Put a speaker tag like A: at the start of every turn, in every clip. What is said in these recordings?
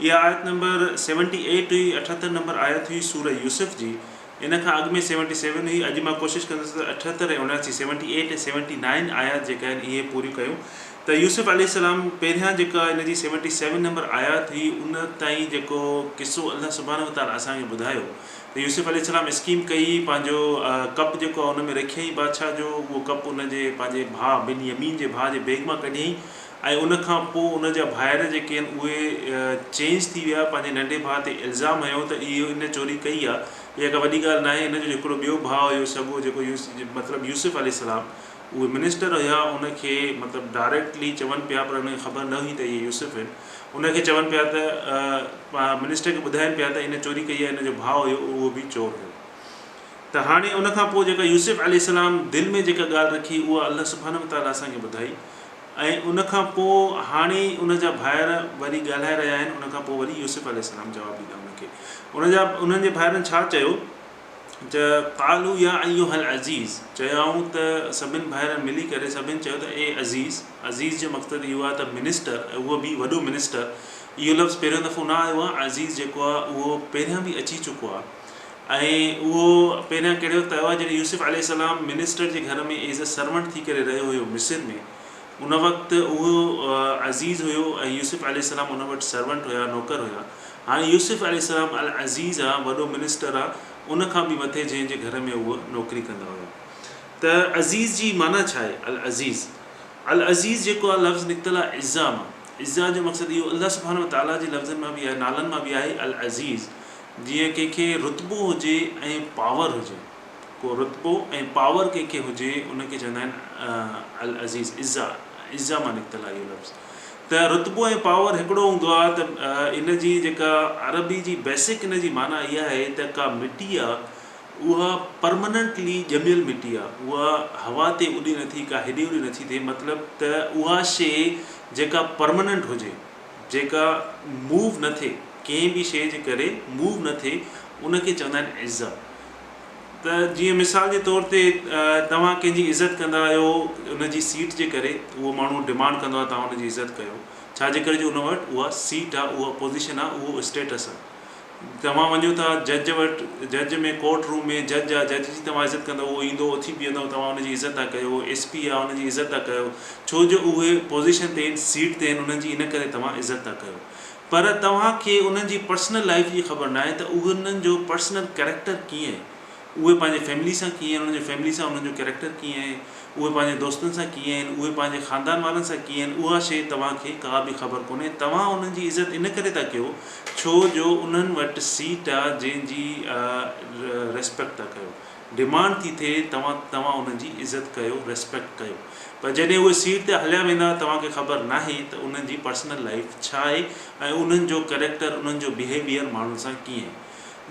A: اها آيت نمبر سيونٽي ايٽ هئي، اٺهتر نمبر آيت هئي سوره يوسف جي، ان کان اڳ ۾ سيونٽي سيون هئي، اڄ مان ڪوشش ڪندس ته اٺهتر ۽ اڻياسي، سيونٽي ايٽ ۽ سيونٽي نائن، آيات جيڪي آهن اهي پوريون ڪيون ته يوسف عليه السلام پهريان جيڪا ان جي سيونٽي سيون نمبر آيات هئي ان تائين جيڪو قصو الله سبحانه وتعالٰي اسان کي ٻڌايو ته يوسف عليه السلام اسڪيم ڪئي پنهنجو ڪپ جيڪو آهي ان ۾ رکيائين بادشاهه جو اهو ڪپ ان جي پنهنجي ڀاء بن يمين جي ڀاء جي بيگ مان ڪڍيائين ۽ ان کان پوء ان جا ڀائر جيڪي آهن اهي چينج ٿي ويا پنهنجي ننڍي ڀاء تي الزام هنيو ته اهي ان چوري ڪئي آ اها ڪا وڏي ڳالهه ناهي ان جو هڪڙو ٻيو ڀاء هيو سڳو جيڪو مطلب يوسف عليه السلام اهي منسٽر هيا ان کي مطلب ڊائريڪٽلي چون پيا پر ان کي خبر نه هئي ته اهي يوسف آهن ان کي چون پيا ته منسٽر کي ٻڌائين پيا ته ان چوري ڪئي آ ان جو ڀاء هيو اهو به چور هيو ته هاڻي ان کان پوء جيڪا يوسف عليه السلام دل ۾ جيڪا ڳالهه رکي اها الله سبحانه وتعالٰي اسان کي ٻڌائي ۽ ان کان پوء هاڻي ان جا ڀائر وري ڳالهائي رهيا آهن ان کان پوء وري يوسف عليه السلام جواب ڏيندا ان کي ان جا انهن جي ڀائرن ڇا چيو ته قالو يا ايها العزيز چيائون ته سڀن ڀائرن ملي ڪري سڀن چيو ته اي عزيز عزيز جو مقصد اهو آهي ته منسٽر اهو به وڏو منسٽر اهو لفظ پهريون دفعو نه آيو آهي عزيز جيڪو آهي اهو پهريان به اچي چڪو آهي ۽ اهو پهريان ڪهڙو وقت آيو آهي جڏهن يوسف عليه السلام منسٽر جي گهر ۾ ايز اي سرونٽ ٿي ڪري رهيو هيو مصر ۾ ان وقت اهو عزيز هيو ۽ يوسف عليه السلام ان وٽ سرونٽ هيا نوڪر هيا هاڻي يوسف عليه السلام العزيز آ وڏو منسٽر آ ان کان به مٿي جنهن جي گهر ۾ اهو نوڪري ڪندا هيا ته عزيز جي معنيٰ ڇا آهي العزيز العزيز جيڪو آ لفظ نڪتل آ عزّا مان عزّا جو مقصد اهو الله سبحانه وتعالٰي جي لفظن مان به آهي نالن مان به آهي العزيز جيئن ڪنهن کي رتبو هجي ۽ پاور هجي. ڪو رتبو ۽ پاور ڪنهن کي هجي ان کي چوندا آهن العزيز، عزّا، عزّا مان نڪتل آهي اهو لفظ. ته رتبو ۽ پاور هڪڙو هوندو آهي ته ان جي جيڪا عربي جي بيسڪ ان جي معنيٰ اها آهي ته ڪا مٽي آهي اها پرمننٽلي ڄميل مٽي آهي اها هوا تي اڏي نٿي ڪا هيڏي هوڏي نٿي ٿئي مطلب ته اها شيء جيڪا پرمننٽ هجي. جيڪا موو نه ٿئي ڪنهن به شيء جي ڪري موو نه ٿئي ان کي چوندا آهن عزت ته جيئن مثال جي طور تي توهان ڪنهن جي عزت ڪندا آهيو ان جي سيٽ جي ڪري اهو ماڻهو ڊمانڊ ڪندو آهي توهان ان جي عزت ڪيو ڇا جي ڪري جو ان وٽ اها سيٽ آهي اها پوزيشن آهي اهو اسٽيٽس آهي توهان وڃو ٿا جج وٽ، جج ۾ ڪورٽ روم ۾ جج آ، جج جي توهان عزت ڪندؤ اهو ايندو اٿي بيهندؤ توهان ان جي عزت ٿا ڪيو، ايس پي آ ان جي عزت ٿا ڪيو ڇو جو اهي پوزيشن تي آهن سيٽ تي آهن انهن جي ان ڪري توهان عزت ٿا ڪيو پر توهان کي انهن جي پرسنل لائيف جي خبر ناهي ته انهن جو پرسنل ڪريڪٽر ڪيئن اهي پنهنجي فيملي سان ڪيئن آهن، انهن جي فيملي سان انهن جو ڪيريڪٽر ڪيئن آهي، اهي پنهنجي دوستن سان ڪيئن آهن، اهي پنهنجي خاندان وارن سان ڪيئن آهن، اها شيء توهان کي ڪا به خبر ڪونهي. توهان انهن جي عزت ان ڪري ٿا ڪيو ڇو جو انهن وٽ سيٽ آ جنهن جي ريسپيڪٽ ٿا ڪيو. ڊيمانڊ ٿي ٿئي توهان توهان انهن جي عزت ڪيو، ريسپيڪٽ ڪيو. پر جڏهن اهي سيٽ تي هليا ويندا توهان کي خبر ناهي ته انهن جي پرسنل لائيف ڇا آهي ۽ انهن جو ڪيريڪٽر انهن جو بيهيويئر ماڻهن سان ڪيئن آهي.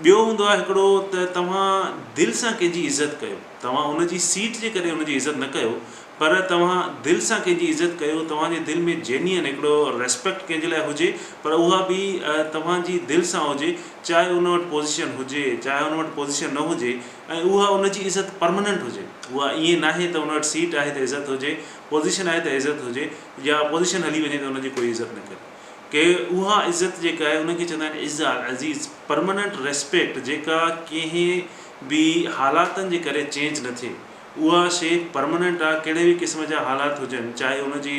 A: ٻيو هوندو آهي هڪڙو ته توهان دل سان ڪنهن جي عزت ڪيو، توهان ان جي سيٽ جي ڪري ان جي عزت نه ڪيو پر توهان دل سان ڪنهن جي عزت ڪيو، توهان جي دل ۾ جينين هڪڙو ريسپيڪٽ ڪنهن جي لاء هجي پر اها به توهان جي دل سان هجي چاهي ان وٽ پوزيشن هجي چاهي ان وٽ پوزيشن نه هجي ۽ اها ان جي عزت پرماننٽ هجي اها ائين ناهي ته ان وٽ سيٽ آهي ته عزت هجي، پوزيشن آهي ته عزت هجي يا پوزيشن هلي وڃي ته ان جي ڪوئي عزت نه ڪري. ڪي اها عزت جيڪا آهي ان کي چوندا آهن عز العزيز Permanent Respect جيڪا ڪنهن به حالاتن جي ڪري چينج نه ٿئي اها شي Permanent آ ڪهڙي به قسم جا حالات هجن چاهي ان جي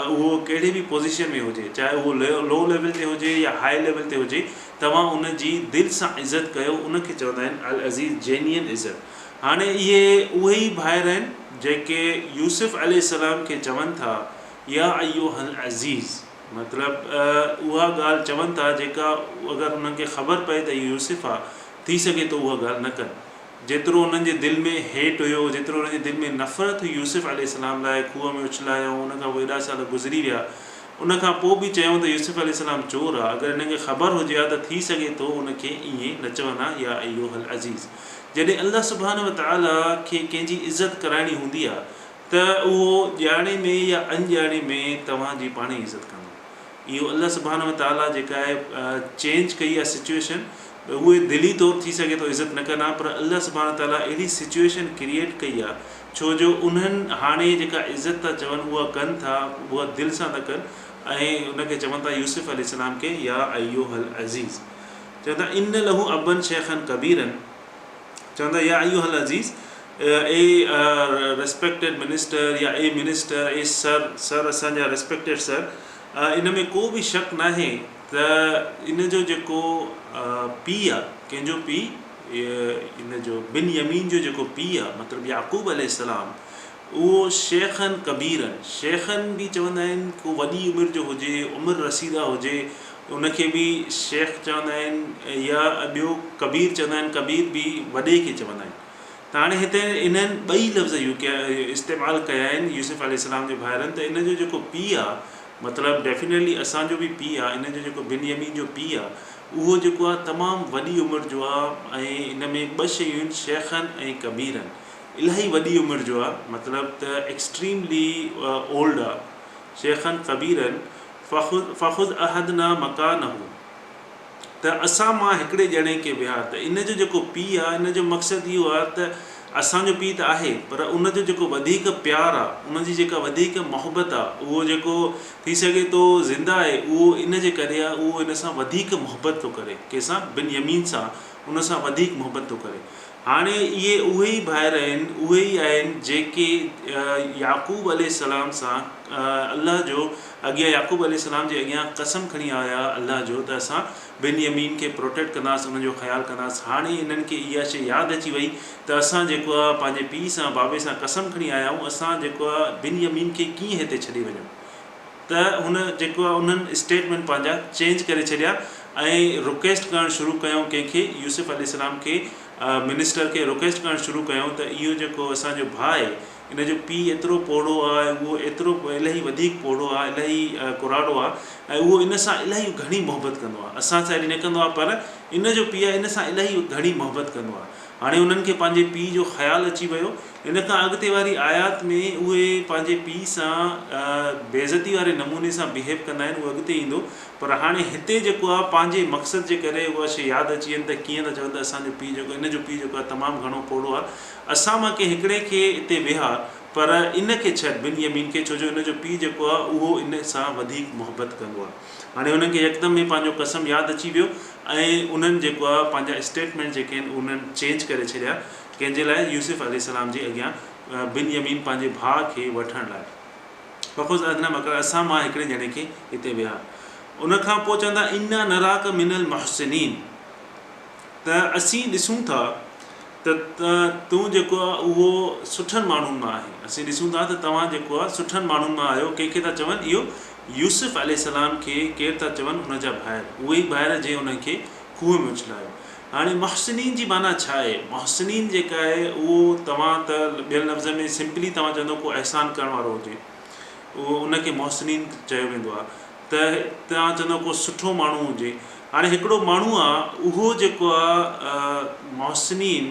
A: اهو ڪهڙي به پوزيشن ۾ هجي چاهي اهو لو ليول تي هجي يا هائي ليول تي هجي توهان ان جي دل سان عزت ڪيو ان کي چوندا آهن العزيز Genuine عزت هاڻي اهي اهي ئي ڀائر آهن جيڪي يوسف عليه السلام کي چون ٿا يا ايها العزيز مطلب اها ڳالهه چون ٿا جيڪا اگر انهن کي خبر پئي ته اهو يوسف آ ٿي سگهي ٿو اها ڳالهه نه ڪن. جيترو انهن جي دل ۾ هيٽ هيو جيترو انهن جي دل ۾ نفرت هئي يوسف عليه السلام لاء کوهه ۾ اڇلايائون ان کان پوء ايڏا سال گذري ويا ان کان پوء به چيائون ته يوسف عليه السلام چور آ اگر انهن کي خبر هجي ها ته ٿي سگهي ٿو ان کي ائين نه چون ها يا ايها العزيز جڏهن الله سبحانه وتعالٰي کي ڪنهن جي عزت ڪرائڻي هوندي آ ته اهو ڄاڻي ۾ يا اڻڄاڻي ۾ توهان جي پاڻ ئي عزت ڪندو. اهو الله سبحانه و تعاليٰ جيڪا اهي چينج ڪئي آهي سچوئيشن ته اهي دلي طور ٿي سگهي ٿو عزت نه ڪن ها پر الله سبحانه و تعاليٰ اهڙي سچوئيشن ڪريئيٽ ڪئي آهي ڇو جو انهن هاڻي جيڪا عزت ٿا چون اها ڪن ٿا اها دل سان ٿا ڪن ۽ ان کي چون ٿا يوسف عليه السلام کي يا ايها العزيز چون ٿا ان له ابًا شيخًا ڪبيرًا. چون ٿا يا ايها العزيز اي ريسپيڪٽيڊ منسٽر يا اي منسٽر اي سر سر اسان جا ريسپيڪٽيڊ سر ان ۾ ڪو به شڪ ناهي ته ان جو جيڪو پي آ ڪنهن جو پي ان جو بن يمين جو جيڪو پي آ مطلب يعقوب عليه السلام اهو شيخن ڪبيرن، شيخن به چوندا آهن، ڪو وڏي عمر جو هجي، عمر رسيده هجي، ان کي به شيخ چوندا آهن يا ٻيو ڪبير چوندا آهن، ڪبير به وڏي کي چوندا آهن. ته هاڻي هتي انهن ٻئي لفظ يو ڪيا استعمال ڪيا آهن يوسف عليه السلام جي ڀائرن ته ان جو جيڪو پيء آ مطلب ڊيفينيٽلي اسان جو به پيء آ انهن جو جيڪو بنيامين جو پيء آ اهو جيڪو آ تمام وڏي عمر جو آ ۽ ان ۾ ٻه شيون آهن شيخن ۽ ڪبيرن. الاهي وڏي عمر جو آ مطلب ته ايڪسٽريملي اولڊ آ شيخا ڪبيرا فخذ احدنا مڪانه ته اسان مان هڪڙي ڄڻي کي ويهار ته ان جو جيڪو پي آ ان جو مقصد اهو آ ته اسان جو پي ته آهي پر ان جو جيڪو وڌيڪ پيار آ ان جي جيڪا وڌيڪ محبت آ اهو جيڪو ٿي سگهي ٿو زنده آهي اهو ان جي ڪري آ اهو ان سان وڌيڪ محبت ٿو ڪري ڪنهن سان بن يمين سان ان سان وڌيڪ محبت ٿو ڪري هاڻي اهي اهي ئي ڀائر آهن، اهي ئي آهن جيڪي يعقوب عليه السلام سان الله جو اڳيان يعقوب عليه السلام جي اڳيان قسم کڻي آيا هئا الله جو ته اسان بن يمين کي پروٽيڪٽ ڪنداس انهن جو خيال ڪنداس هاڻي انهن کي اها شيء ياد اچي وئي ته اسان جيڪو آهي پنهنجي پيء سان بابي سان قسم کڻي آيا آهيون اسان جيڪو آهي بن يمين کي ڪيئن هتي ڇڏي وڃون ته هن جيڪو آهي انهن اسٽيٽمينٽ پنهنجا چينج ڪري ڇڏيا ۽ رڪويسٽ ڪرڻ شروع ڪيائون ڪنهن کي يوسف عليه السلام کي منسٽر کي رڪويسٽ ڪرڻ شروع ڪيائون ته اهو جيڪو اسان جو ڀاء آهي ان جو پيء ايترو پوڙهو آهي ۽ اهو ايترو الاهي وڌيڪ پوڙهو آهي الاهي ڪراڙو آهي ۽ اهو ان سان الاهي گهڻي محبت ڪندو آهي اسان سان ايڏي نه ڪندو آهي پر ان جو پيء ان سان الاهي گهڻي محبت ڪندو آهي هاڻي انهن کي پنهنجي پيء جو خيال اچي ويو. ان کان اڳتي واري آيات ۾ اهي پنهنجي پيء سان بيعزتي واري نموني سان بيهيو ڪندا آهن، اهو اڳتي ايندو. پر هاڻي هتي جيڪو آهي پنهنجي مقصد جي ڪري اها شيء ياد اچي وڃي ته ڪيئن ٿا چون ته اسان جو پيء جيڪو هن جو پيء جيڪو آهي تمام گهڻو پوڙهو آهي. اسان مان ڪنهن هڪڙي کي اتي ويهار پر ان کي ڇڏ، بنيامين کي، ڇو جو هن جو پيء جيڪو آهي اهو ان سان وڌيڪ محبت ڪندو آهي. هاڻي انهن کي يڪدم هي پنهنجو قسم ياد اچي ويو ۽ انهن جيڪو آ پنهنجا اسٽيٽمينٽ جيڪي آهن انهن چينج ڪري ڇڏيا ڪنهن جي لاء يوسف عليه السلام جي اڳيان بن يمين پنهنجي ڀاء کي وٺڻ لاء فخذ اذن مڪر اسان مان هڪڙي ڄڻي کي هتي ويهار ان کان پوء چون ٿا انا نراڪ من المحسنين ته اسين ڏسون ٿا ته تون جيڪو آ اهو سٺن ماڻهن مان آهين. اسين ڏسون ٿا ته توهان جيڪو آ سٺن ماڻهن مان آهيو. ڪنهن کي ٿا چون؟ اهو يوسف عليه السلام کي ڪير ٿا چون؟ ان جا ڀائر. اهي ئي ڀائر جنهن انهن کي کوهه ۾ اڇلايو. هاڻي محسنين جي معنيٰ ڇا آهي؟ محسنين جيڪا آهي اهو توهان ته ٻين لفظن ۾ سمپلي توهان چوندو ڪو احسان ڪرڻ وارو هجي ان کي محسنين چيو ويندو آ. ته توهان چوندو ڪو سٺو ماڻهو هجي هاڻي هڪڙو ماڻهو آ اهو جيڪو آ محسنين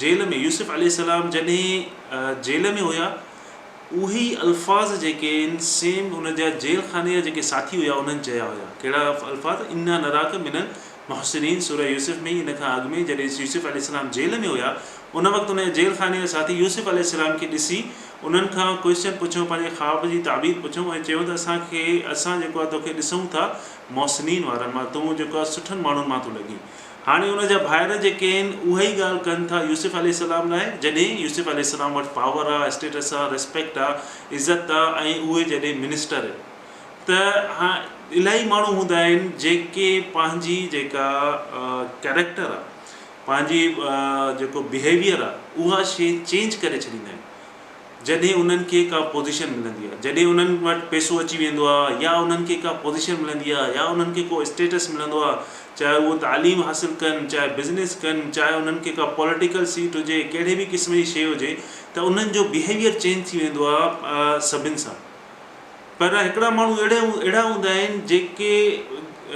A: جيل ۾ يوسف عليه السلام جڏهن جيل ۾ هيا اهي ئي الفاظ جيڪي ان سيم ان جا جيل خاني جا جيڪي ساٿي هيا انهن چيا هيا ڪهڙا الفاظ انا نراڪ من محسنين سورة يوسف ۾ ئي ان کان اڳ ۾ جڏهن يوسف عليه السلام جيل ۾ هيا ان وقت انهن جي جيل خاني جا ساٿي يوسف عليه السلام کي ڏسي انهن کان ڪوئسچن پڇيو پنهنجي خواب جي تعبير پڇيو ۽ چيو ته اسان کي اسان جيڪو آهي توکي ڏسون ٿا محسنين وارن مان تون جيڪو آهي سٺن ماڻهن مان ٿو لڳين هاڻي ان جا ڀائر جيڪي آهن اهائي ڳالهه ڪن ٿا يوسف عليه السلام لاء جڏهن يوسف عليه السلام وٽ پاور آهي اسٽيٽس آهي ريسپيڪٽ آهي عزت آهي ۽ اهي جڏهن منسٽر ته الاهي ماڻهو هوندا آهن جيڪي پنهنجي جيڪا ڪيريڪٽر آهي پنهنجي جيڪو بيهيويئر آهي اها شي چينج ڪري ڇڏيندا آهن جڏهن انهن کي ڪا پوزيشن ملندي آهي جڏهن انهن وٽ پيسو اچي ويندو آهي يا انهن کي ڪا پوزيشن ملندي آهي يا انهن کي ڪو اسٽيٽس ملندو آهي چاهي اهو تعليم حاصل ڪن چاهي بزنس ڪن چاهي انهن کي ڪا پوليٽيڪل سيٽ هجي ڪهڙي به قسم جي شي هجي ته انهن جو بيهيويئر چينج ٿي ويندو آهي سڀن سان پر هڪڙا ماڻهو اهڙا اهڙا هوندا آهن جيڪي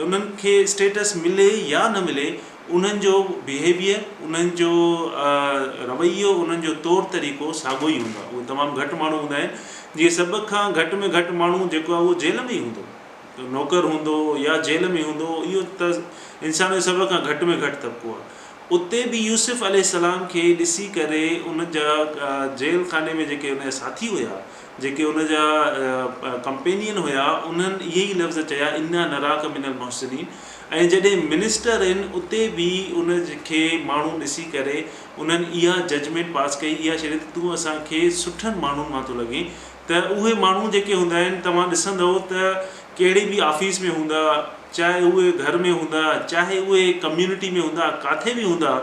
A: انهن کي اسٽيٽس ملي يا نه ملي انهن جو بيهيويئر انهن جو رويو انهن جو طور طريقو ساڳو ئي هوندو آهي اهي تمام گهٽ ماڻهو هوندا آهن جي سڀ کان گهٽ ۾ گهٽ ماڻهو جيڪو آهي اهو جيل ۾ ئي هوندو نوڪر هوندو يا جيل ۾ هوندو اهو ته انسان جو سڀ کان گهٽ ۾ گهٽ طبقو آهي اتي به يوسف عليه السلام کي ڏسي ڪري ان جا جيل خاني ۾ جيڪي ان جا ساٿي هيا جيڪي ان جا ڪمپينين هيا انهن اهي ئي لفظ چيا انا نراڪ من المحسنين ۽ جڏهن منسٽر هن اتي به ان کي ماڻهو ڏسي ڪري انهن اها ججمينٽ پاس ڪئي اها شريعت ته تون اسان کي سٺن ماڻهن مان ٿو لڳين ته اهي ماڻهو جيڪي هوندا آهن توهان ڏسندؤ ته ڪهڙي به آفيس ۾ هوندا چاهي اهي گهر ۾ هوندا چاهي اهي ڪميونٽي ۾ هوندا ڪاٿي به هوندا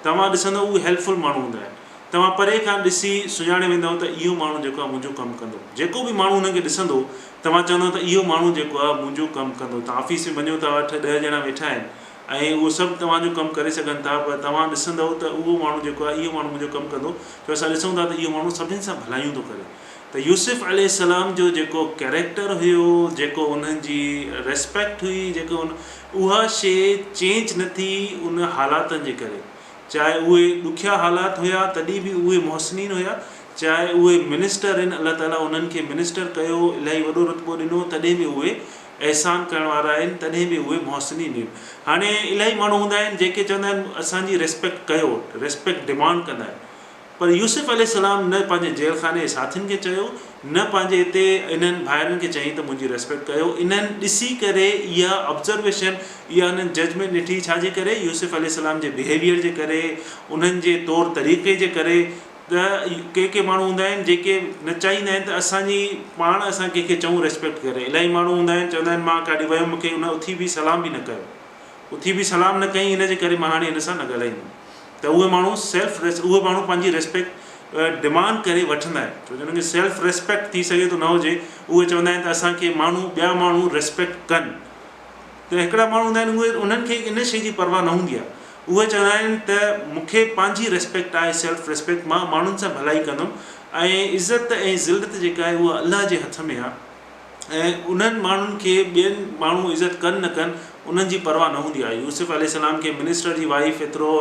A: توهان ڏسندؤ اهي هيلپ فل ماڻهو هوندا آهن. توهان پري کان ڏسي سڃاڻي ويندؤ ته اهو ماڻهو جيڪو آهي منهنجو ڪم ڪندو. جيڪو به ماڻهو هنن کي ڏسندو، توهان چوندؤ ته اهو ماڻهو جيڪو آهي منهنجو ڪم ڪندو. توهان آفيس ۾ وڃو ٿا اٺ ڏهه ڄڻا ويٺا آهن ۽ اهو سڀ توهان جو ڪم ڪري سگهن ٿا پر توهان ڏسندؤ ته اهو ماڻهو جيڪو آهي اهو ماڻهو منهنجو ڪم ڪندو ڇو اسان ڏسون ٿا ته اهو ماڻهو سڀني سان ڀلايون ٿو ڪري. ته يوسف عليه السلام جو جيڪو ڪيريڪٽر هيو، جيڪو انهن جي ريسپيڪٽ هئي، جيڪو اها شيء چينج نه ٿي ان حالاتن جي ڪري. چاهي اهي ڏکيا حالات هيا تڏهن به اهي محسنين هيا چاهي اهي منسٽر هن الله تعالي انهن کي منسٽر ڪيو الاهي وڏو رتبو ڏنو تڏهن به اهي احسان ڪرڻ وارا آهن تڏهن به اهي محسنين آهن هاڻي الاهي ماڻهو هوندا آهن جيڪي چوندا آهن اسان جي ريسپيڪٽ ڪيو ريسپيڪٽ ڊمانڊ ڪندا آهن پر يوسف عليه السلام نه پنهنجي جيل خاني جي ساٿين کي چيو نه پنهنجي اتي انهن ڀائرن کي چيائين ته منهنجي ريسپيڪٽ ڪيو انهن ڏسي ڪري اها آبزرويشن اها انهن ججمينٽ ڏٺي ڇا جي ڪري يوسف عليه السلام جي بيهيويئر جي ڪري انهن جي طور طريقي جي ڪري ته ڪي ڪي ماڻهو هوندا آهن جيڪي نه چاهيندا آهن ته اسان جي پاڻ اسان ڪنهن کي چئون ريسپيڪٽ ڪري الائي ماڻهو هوندا آهن چوندا آهن مان ڪاڏي ويم مون کي ان اٿي به سلام به نه ڪيو اٿي به سلام نه ڪيائين ان جي ڪري مان هاڻي هن سان نه ڳالهائيندم ته اهي ماڻهو سيلف اهي ماڻهو پنهنجي ريسپيڪٽ ڊمانڊ ڪري وٺندا آهن ڇو جو انهن کي سيلف ريسپيڪٽ ٿي سگهي ٿو نه هجي اهي چوندا آهن ته اسان کي ماڻهو ٻيا ماڻهو ريسپيڪٽ ڪن ته هڪڙا ماڻهو هوندا آهن اهي انهن کي ان شي جي پرواهه نه هوندي آهي اهي چوندا آهن ته مون کي پنهنجي ريسپيڪٽ آهي سيلف ريسپيڪٽ مان ماڻهن سان ڀلائي ڪندم ۽ عزت ۽ ذلت جيڪا آهي اها الله جي هٿ ۾ آهي ۽ انهن ماڻهن کي ٻين ماڻهو عزت ڪن نه ڪن انهن جي پرواهه نه هوندي آهي يوسف عليه السلام کي منسٽر جي وائيف ايترو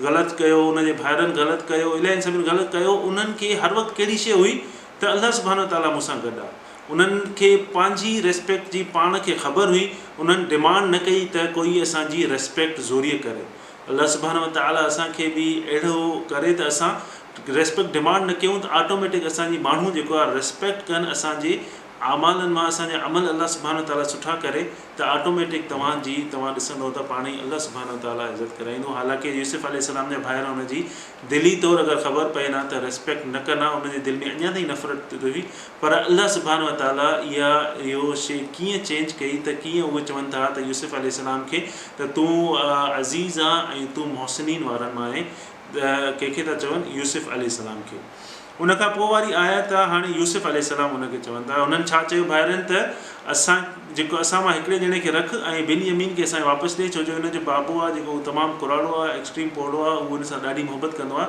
A: غلط ڪيو ان جي ڀائرن غلط ڪيو الائين سڀن غلط ڪيو انهن کي هر وقت ڪهڙي شيء هئي ته الله سبحانه وتعاليٰ مون سان گڏ آهي انهن کي پنهنجي ريسپيڪٽ جي پاڻ کي خبر هئي انهن ڊمانڊ نه ڪئي ته ڪوئي اسان جي ريسپيڪٽ زوريء ڪري الله سبحانه وتعاليٰ اسان کي به اهڙو ڪري ته اسان ريسپيڪٽ ڊمانڊ نه ڪيون ته آٽوميٽڪ اسان جي ماڻهو جيڪو آهي ريسپيڪٽ ڪن اسان جي اعمالن مان اسان جا عمل الله سبحانه وتعاليٰ سٺا ڪري ته آٽوميٽڪ توهان جي توهان ڏسندو ته پاڻ ئي الله سبحانه وتعاليٰ عزت ڪرائيندو حالانڪه يوسف عليه السلام جا ڀائر ان جي دلي طور اگر خبر پين ها ته ريسپيڪٽ نه ڪن ها ان جي دل ۾ اڃا تائين نفرت هئي پر الله سبحانه وتعاليٰ اها اهو شيء ڪيئن چينج ڪئي ته ڪيئن اهي چون ٿا ته يوسف عليه السلام کي ته تون عزيز آهين ۽ تون محسنين وارن مان آهين ڪنهن کي ٿا چون يوسف عليه السلام کي ان کان پوء واري آيت آهي هاڻي يوسف عليه السلام ان کي چون ٿا هنن ڇا چيو ڀائرن ته اسان جيڪو اسان مان هڪڙي ڄڻي کي رک ۽ بن يمين کي اسان کي واپس ڏي ڇو جو هن جو بابو آهي جيڪو هو تمام ڪراڙو آهي ايڪسٽريم پوڙهو آهي هو هن سان ڏاڍي محبت ڪندو آهي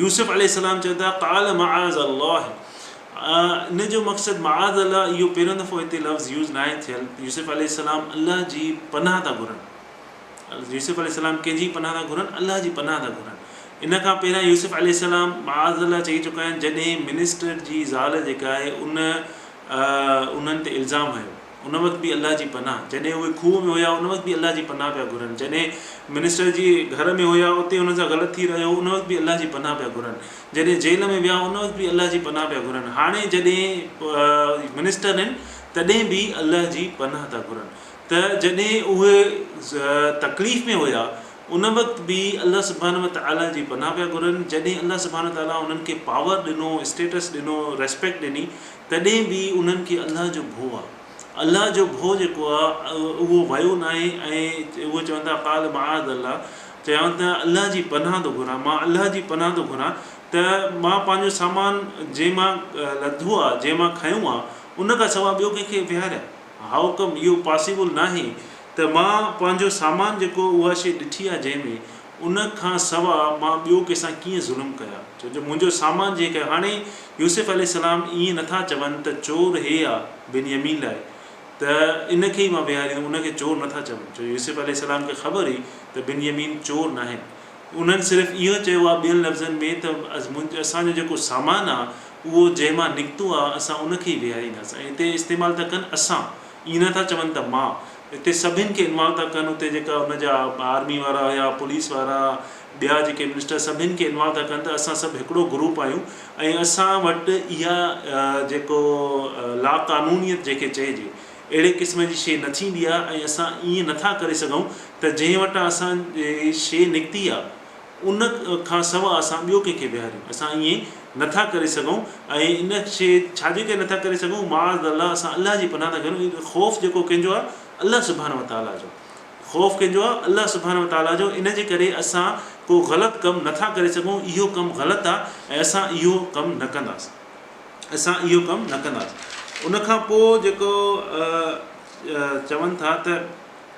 A: يوسف عليه السلام چون ٿا قال معاذ الله ان جو مقصد معاذ الله اهو پهريون دفعو هتي لفظ يوز ناهي ٿيل يوسف عليه السلام الله جي پناهه ٿا گهرن يوسف عليه السلام ڪنهن جي پناهه ٿا گهرن الله جي پناهه ٿا گهرن ان کان پهريان يوسف عليه السلام معاذ الله چئي چڪا آهن جڏهن منسٽر جي زال جيڪا آهي ان انهن تي الزام هنيو ان وقت به الله جي پناهه، جڏهن اهي کوهه ۾ هيا ان وقت به الله جي پناهه پيا گهرن، جڏهن منسٽر جي گهر ۾ هيا اتي انهن سان غلط ٿي رهيو هو ان وقت به الله جي پناهه پيا گهرن، جڏهن جيل ۾ ويا ان وقت به الله جي پناهه پيا گهرن، هاڻي جڏهن منسٽر آهن تڏهن به الله جي پناهه ٿا گهرن ته جڏهن اهي تڪليف ۾ هيا ان وقت به الله سبحانه وتعالي جي پناهه پيا گهرن، جڏهن الله سبحانه وتعالي انهن کي پاور ڏنو، اسٽيٽس ڏنو، ريسپيڪٽ ڏني تڏهن به انهن کي الله جو ڀو آ. الله جو ڀو جيڪو آ اهو ويو ناهي ۽ اهي چون ٿا قال معاذ الله چيائون ته الله جي پناهه ٿو گهران مان الله جي پناهه ٿو گهران ته مان پنهنجو سامان جنهن مان لڌو آ جنهن مان کنيو آ ان کان سواء ٻيو ڪنهن کي ويهاريان هائوڪم اهو پاسيبل ناهي ته مان پنهنجو سامان جيڪو اها شيء ڏٺي آ جنهن ۾ ان کان سوا مان ٻيو ڪنهن سان ڪيئن ظلم ڪيا؟ ڇو جو منهنجو سامان جنهن ڪيو. هاڻي يوسف عليه السلام ائين نه ٿا چون ته چور هي آ، بنيامين لاء، ته ان کي ئي مان ويهاريندم، ان کي چور نه ٿا چون، ڇو جو يوسف عليه السلام کي خبر هئي ته بنيامين چور ناهن. انهن صرف اهو چيو آ ٻين لفظن ۾ ته اسان جو جيڪو سامان آ، اهو جنهن مان نڪتو آ، اسان ان کي ئي ويهارينداسين ۽ هتي استعمال ٿا ڪن اسان، ائين نه ٿا چون ته مان. اتي سڀن کي انوالو ٿا ڪن اتي جيڪا ان جا آرمي وارا هيا پوليس وارا ٻيا جيڪي منسٽر سڀن کي انوالو ٿا ڪن ته اسان سڀ هڪڙو گروپ آهيون ۽ اسان وٽ اها جيڪو لا قانونيت جيڪي چئجي اهڙي قسم جي شي نه ٿيندي آهي ۽ اسان ائين نٿا ڪري سگهون ته جنهن وٽان اسان جي شي نڪتي آهي ان کان سواء اسان ٻيو ڪنهن کي ويهاريون؟ اسان ائين نه ٿا ڪري سگهون ۽ ان شيء ڇا جي ڪري نه ٿا ڪري سگهون؟ معاذ الله اسان الله جي پناهه ٿا گهرون ان خوف جيڪو ڪنهن جو آهي الله سبحانه وتعاليٰ جو خوف ڪنهن جو آهي الله سبحانه وتعاليٰ جو ان جي ڪري اسان ڪو غلط ڪم نه ٿا ڪري سگهون اهو ڪم غلط آهي ۽ اسان اهو ڪم نه ڪنداس اسان اهو ڪم نه ڪنداس ان کان پوء جيڪو چون ٿا ته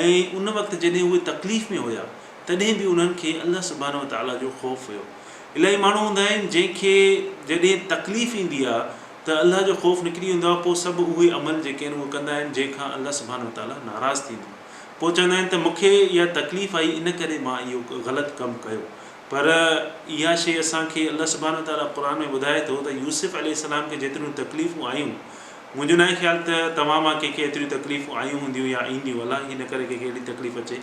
A: ۽ ان وقت جڏهن اهي تڪليف ۾ هيا تڏهن به انهن کي الله سبحانه وتعالي جو خوف هيو. الائي ماڻهو هوندا آهن جنهن کي جڏهن تڪليف ايندي آهي ته الله جو خوف نڪري ويندو آهي پوء سڀ اهي عمل جيڪي آهن اهي ڪندا آهن جنهن کان الله سبحانه وتعالي ناراض ٿيندو آهي پوء چوندا آهن ته مون کي اها تڪليف آئي ان ڪري مان اهو غلط ڪم ڪيو پر اها شيء اسان کي الله سبحانه وتعالي قرآن ۾ ٻڌائي ٿو ته يوسف عليه السلام کي جيتريون تڪليفون آيون منهنجو ناهي خيال ته توهان مان ڪنهن کي ايتريون تڪليفون آيون هونديون يا اينديون، الله هي نه ڪري ڪنهن کي اهڙي تڪليف اچي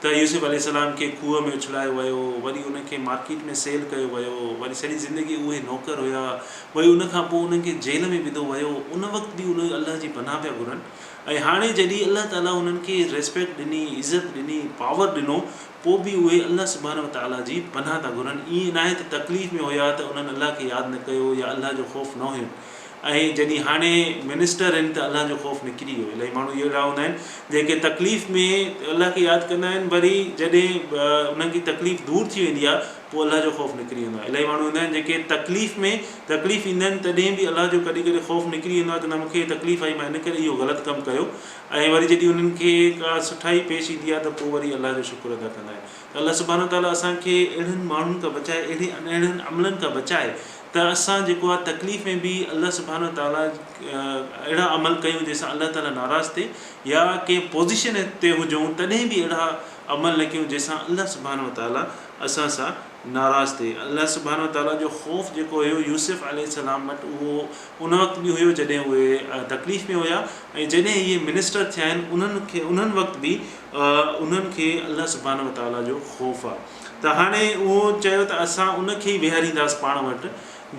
A: ته يوسف عليه السلام کي کوهه ۾ اڇلايو ويو، وري انهن کي مارڪيٽ ۾ سيل ڪيو ويو، وري سڄي زندگي اهي نوڪر هيا، وري ان کان پوء انهن کي جيل ۾ وڌو ويو، ان وقت به اهي الله جي پناهه پيا گهرن ۽ هاڻي جڏهن الله تعاليٰ انهن کي ريسپيڪٽ ڏني، عزت ڏني، پاور ڏنو، پوء به اهي الله سبحانه وتعاليٰ جي پناهه ٿا گهرن، ائين ناهي ته تڪليف ۾ هيا ته انهن الله کي ياد نه ڪيو يا الله جو خوف نه هين. ۽ جڏھن ھاڻي منسٽر ھن ته الله جو خوف نڪري ويو الائي ماڻھو اھڙا ھوندا آھن جنھن کي تڪليف ۾ الله کي ياد ڪندا آھن وري جڏھن انھن جي تڪليف دور ٿي ويندي آھي پوء الله جو خوف نڪري ويندو آھي الائي ماڻھو ھوندا آھن جنھن کي تڪليف ۾ تڪليف ايندا آھن تڏھن به الله جو ڪڏھن ڪڏھن خوف نڪري ويندو آھي ته نه مون کي تڪليف آئي مان ان ڪري اھو غلط ڪم ڪيو ۽ وري جڏھن انھن کي ڪا سٺائي پيش ايندي آھي ته پوء وري الله جو شڪر ادا ڪندا آھن ته الله سبحانه تعالي اسان کي اھڙن ماڻھن کان بچائي اھڙي ان اھڙن عملن کان بچائي ته اسان جيڪو آهي تڪليف ۾ به الله سبحانه وتعاليٰ اهڙا عمل ڪيون جنهن سان الله تعاليٰ ناراض ٿئي يا ڪنهن پوزيشن تي هجون تڏهن به اهڙا عمل نه ڪيون جنهن سان الله سبحانه وتعاليٰ اسان سان ناراض ٿئي الله سبحانه وتعاليٰ جو خوف جيڪو هيو يوسف عليه السلام وٽ اهو ان وقت به هيو جڏهن اهي تڪليف ۾ هيا ۽ جڏهن اهي منسٽر ٿيا آهن انهن کي انهن وقت به انهن کي الله سبحانه وتعاليٰ جو خوف آهي ته هاڻي اهو چيو ته اسان ان کي ئي ويهارينداس پاڻ وٽ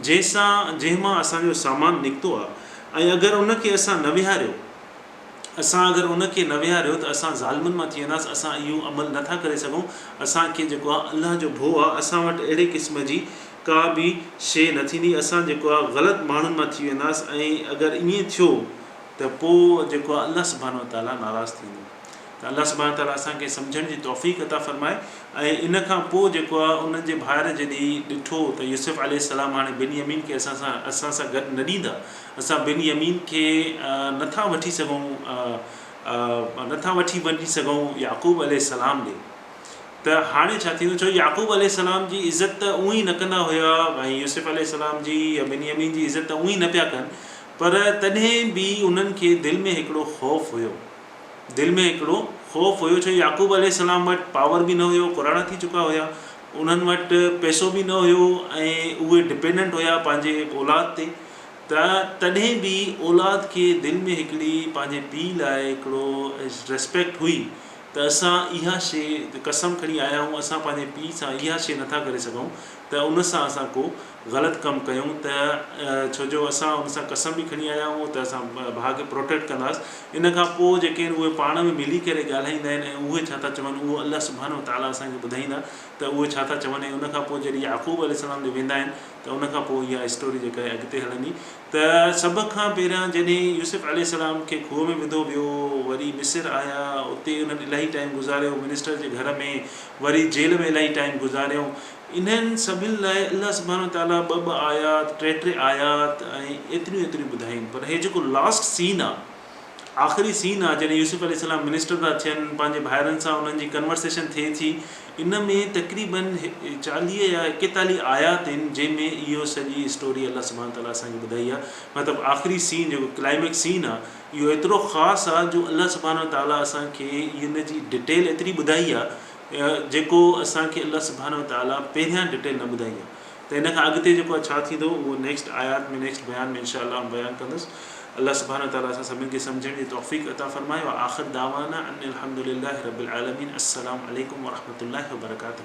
A: جنهن سان جنهن مان اسان جو سامان نڪتو آهي ۽ اگر ان کي اسان نه ويهاريو اسان اگر ان کي نه ويهاريو ته اسان ظالمن مان ٿي وينداس اسان اهو عمل نه ٿا ڪري سگهون اسان کي جيڪو آهي الله جو ڀو آهي اسان وٽ اهڙي قسم جي ڪا به شيء نه ٿيندي اسان جيڪو آهي غلط ماڻهن مان ٿي وينداس ۽ اگر ائين ٿيو ته پوء جيڪو آهي الله سبحانه وتعاليٰ ناراض ٿيندو. ته الله سبحانه وتعاليٰ اسان کي سمجهڻ جي توفيق عطا فرمائي ۽ ان کان پوء جيڪو آهي انهن جي ڀائر جڏهن ڏٺو ته يوسف عليه السلام هاڻي بن يمين کي اسان سان اسان سان گڏ نه ڏيندا اسان بن يمين کي نه ٿا وٺي سگهون نه ٿا وٺي وڃي سگهون يعقوب عليه السلام ڏي ته هاڻي ڇا ٿيندو ڇو يعقوب عليه السلام جي عزت ته اونهي نه ڪندا هيا ۽ يوسف عليه السلام جي يا بن يمين جي عزت ته اونهي نه پيا ڪن پر تڏهن به انهن کي دل ۾ هڪڙو خوف هيو دل ۾ هڪڙو خوف هيو ڇو يعقوب عليه السلام وٽ پاور به نه هيو پراڻا ٿي چڪا هيا انهن وٽ پئسو به نه هيو ۽ اهي ڊپينڊنٽ هيا پنهنجي اولاد تي ته تڏهن به اولاد کي دل ۾ هڪڙي پنهنجي پيء لاء هڪڙو ريسپيڪٽ هئي ته اسان اها شي قسم کڻي آيا آهيون اسان پنهنجي پيء سان اها شي نٿا ڪري سگهون ته ان سان اسان ڪو غلط ڪم ڪيون ته ڇو جو اسان ان سان قسم به کڻي آيا آهيون ته اسان ڀاء کي پروٽيڪٽ ڪنداس ان کان پوء جيڪي آهن اهي پاڻ ۾ ملي ڪري ڳالهائيندا آهن ۽ اهي ڇا ٿا چون اهو الله سبحانه وتعالٰي اسان کي ٻڌائيندا ته اهي ڇا ٿا چون ۽ ان کان پوء جڏهن يعقوب عليه السلام ڏي ويندا آهن ته ان کان پوء اها اسٽوري جيڪا آهي اڳتي هلندي ته سڀ کان پهريان جڏهن يوسف عليه السلام کي کوهه ۾ وڌو ويو وري مصر آيا اتي انهن الاهي ٽائيم گذاريو منسٽر جي گهر ۾ وري جيل ۾ الاهي ٽائيم گذاريو انهن سڀن لاء الله سبحانه وتعاليٰ ٻه ٻه آيات، ٽي ٽي آيات ۽ ايتريون ايتريون ٻڌايون پر هي جيڪو لاسٽ سين آ، آخري سين آ جڏهن يوسف عليه السلام منسٽر ٿا ٿين پنهنجي ڀائرن سان انهن جي ڪنورسيشن ٿئي ٿي ان ۾ تقريباً چاليهه يا ايڪيتاليهه آيات آهن جنهن ۾ اهو سڄي اسٽوري الله سبحانه وتعاليٰ اسان کي ٻڌائي آ مطلب آخري سين جيڪو ڪلائمڪس سين آ اهو ايترو خاص آ جو الله سبحانه وتعاليٰ اسان کي ان جي ڊٽيل ايتري ٻڌائي آ جيڪو اسان کي الله سبحانه وتعالي پهريان ڊٽيل نه ٻڌائي آهي ته ان کان اڳتي جيڪو ڇا ٿيندو اهو نيڪسٽ آيات ۾ نيڪسٽ بيان ۾ انشاء الله آئون بيان ڪندس الله سبحانه وتعالي اسان سڀني کي سمجهڻ جي توفيق عطا فرمائي واخر دعوانا ان الحمد لله رب العالمين السلام عليڪم ورحمة الله وبرڪاته.